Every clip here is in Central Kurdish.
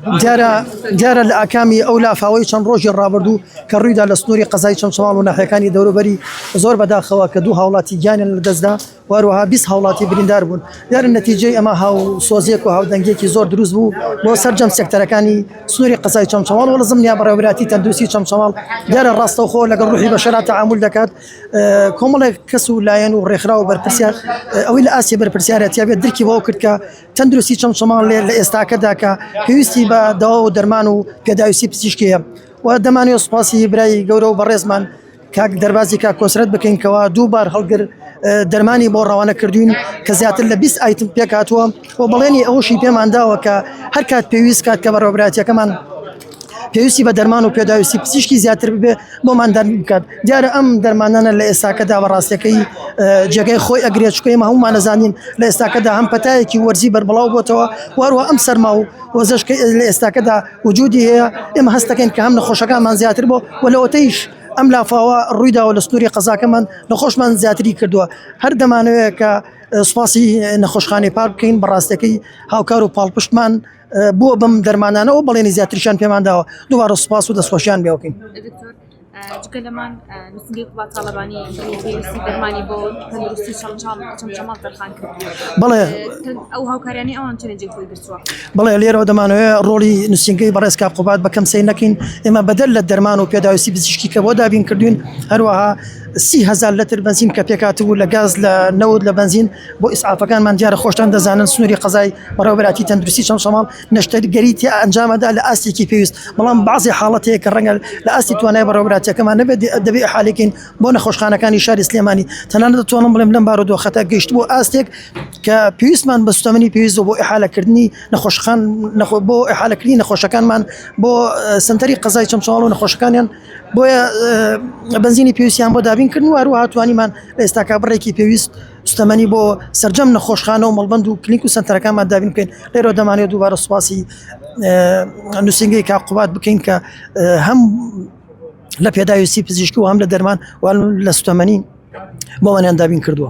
دیارە لە ئاکامی ئەو لافاوەی چەند ڕۆژی ڕابردوو کە ڕوویدا لە سنووری قەزای چەمچەماڵ و ناحیەکانی دەوروبەری زۆر بەداخەوە کە دوو هاوڵاتی گیانیان لەدەستدا و هەروەها بیست هاوڵاتی بریندار بوون دیارە نەتیجەی ئەمە هاوسۆزییەک و هاودەنگیەکی زۆر دروست بوو بۆ سەرجەم سێکتەرەکانی سنووری قەزای چەمچەماڵ و لەزم نیا بەڕێوەبراتی تەندروستی چەمچەماڵ دیارە ڕاستەوخۆ لەگەڵ ڕوحی بەشەرا تعامل دەکات کۆمەڵێک کەس و لایەن و ڕێکخرا و بەرپرسیار ئەوەی لە ئاستی بەرپرسیارەتیا بێت درکی بەوە کرد کە تەندروستی چەمچەماڵ لە ئێستاکەدا کە پێویستی بە داوا و دەرمان و پێداویستی پزیشکیە و دەمانوێت سپاسی برای گەورە و بەڕێزمان کاک دەربازی کا کۆسرەت بکەین کەەوە دووبار هەڵگر دەرمانی بۆ ڕەوانە کردوین کە زیاتر لە 20 ئایتم پێکاتوە و بەڵێنی ئەوشی پێمان داوە کە هەر کات پێویست کات کە بەڕۆبراتەکەمان پێویستی بە دەرمان و پێداویستی پزیشکی زیاتر ببێ بۆمان دەرمی بکات دیارە ئەم دەرمانانە لە ئێستاکەدا بە ڕاستەکەی جێگەی خۆی ئەگرێ چکەی مە هەمومان نەزانین لە ئێستاکەدا هەم پەتایەکی وەرزی بەربڵاو بۆتەوە واروا ئەم سەرما و وەزشکە لە ئێستاکەدا وجودی هەیە ئێمە هەستەکەین کە هەم نەخۆشەکانمان زیاتر بۆ و لەوەتەیش ئەم لافاوە ڕوویداوە لە سنووری قەزاکەمان نەخۆشمان زیاتری کردووە هەر دەمانەوەیە کە سوپاسی نەخۆشخانەی پار بکەین بە ڕاستەکەی هاوکار و پاڵپشتمان بۆ بەم دەرمانانەوە بەڵێنی زیاترشان پێمان داوە دووارە سوپاس و دەستخۆشیان بێوکەین. جگە لەمان نووسنگەی قوڵا تاالبانی دەرمانی بۆ تەندروستی چەمچەڵ چەمچەماڵ دەرخان کرد بڵێ ئەو هاوکاریانی ئەوان چێنجی خۆی گرتووە بڵێ لێرەوە دەمانەوەێ ڕۆڵی نووسنگەی بەڕێز کا قوبات بەکەم سەی نەکەین ئێمە بەدەر لە دەرمان و پێداویستی بزیشکی کە بۆ دابین کردوین هەروەها سیهزار لەتر بەنزین کە پێکاتبوو لە گاز لە نەوت لە بەنزین بۆ ئیسعافەکانمان دیارە خۆشتان دەزانن سنووری قەزای بەڕێوەبەراتی تەندروستی چەمچەماڵ نەشتەرگەری تیا ئەنجامەدا لە ئاستێکی پێویست بەڵام بەعضی حاڵەتەیە کە ڕەنگە لە ئاستی توانای بەڕێوەبراتیەکەمان نەبێت دەبێ حالێکین بۆ نەخۆشخانەکانی شاری سلێمانی تەنان دەتوانم بڵێم لەم بارو دۆخەتە گەشت بۆ ئاستێک کە پێویستمان بە سوتەمەنی پێویست بۆ ئحالەکردنی نەخۆشخان نەخۆ بۆ ئحالەکردنی نەخۆشەکانمان بۆ سنتەری قەزای چەمچاڵ و نەخۆشەکانیان بۆیە بەنزینی پێویستیان بۆ دابین کردن و هەروەها توانیمان لە ئێستاکە بڕێکی پێویست سوستەمەنی بۆ سەرجەم نەخۆشخانە و مەڵبند و کلینک و سەنتەرەکانمان دابین بکەین لێرۆ دەمانێت دووبارە سوپاسی نووسنگی کا قوبات بکەین کە هەم لە پێداویستی پزیشکی و هەم لە دەرمان و لە سوتەمەنی بۆمانیان دابین کردووە.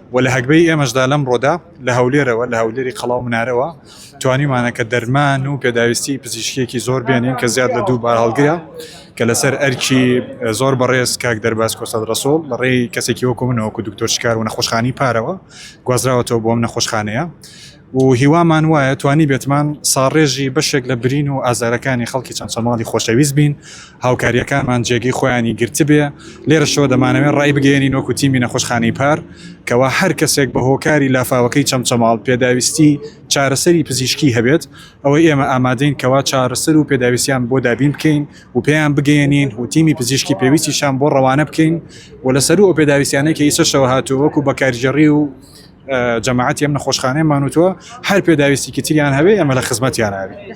وە لە هەگبەی ئێمەشدا لەمڕۆدا لە هەولێرەوە لە هەولێری قەڵاو منارەوە توانیمانە کە دەرمان و پێداویستی پزیشکێکی زۆر بێنین کە زیاد لە دوو بار هەڵگرە کە لەسەر ئەرکی زۆر بەڕێز کاک دەرباز کۆسەد ڕسۆڵ لە ڕێی کەسێکی وەکو منەوەکو دکتۆر شکار و نەخۆشخانی پارەوە گوازراوەتەوە بۆم نەخۆشخانەیە و هیوامان وایە توانیبێتمان ساڕێژی بەشێک لە برین و ئازارەکانی خەڵکی چەمچەماڵی خۆشەویست بین، هاوکارییەکانمان جێگەی خۆیانی گرتبێ، لێرەشەوە دەمانەوێ ڕای بگەیەنین وەکو تیمی نەخۆشخانەی پار کەوا هەر کەسێک بە هۆکاری لافاوەکەی چەمچەماڵ پێداویستی چارەسەری پزیشکی هەبێت ئەوە ئێمە ئامادەین کەوا چارەسەر و پێداویستیان بۆ دابین بکەین و پێیان بگەیەنین و تیمی پزیشکی پێویستیشان بۆ ڕەوانە بکەین و لەسەروو ئەو پێداویستیانەی کە ئیسەشەوە هاتووە وەکو بەکارگێڕی و جەماعەتی ئەم نەخۆشخانەیە مانوتوە هەر پێداویستیکی تریان هەبێ ئێمە لە خزمەتیان ئەبین.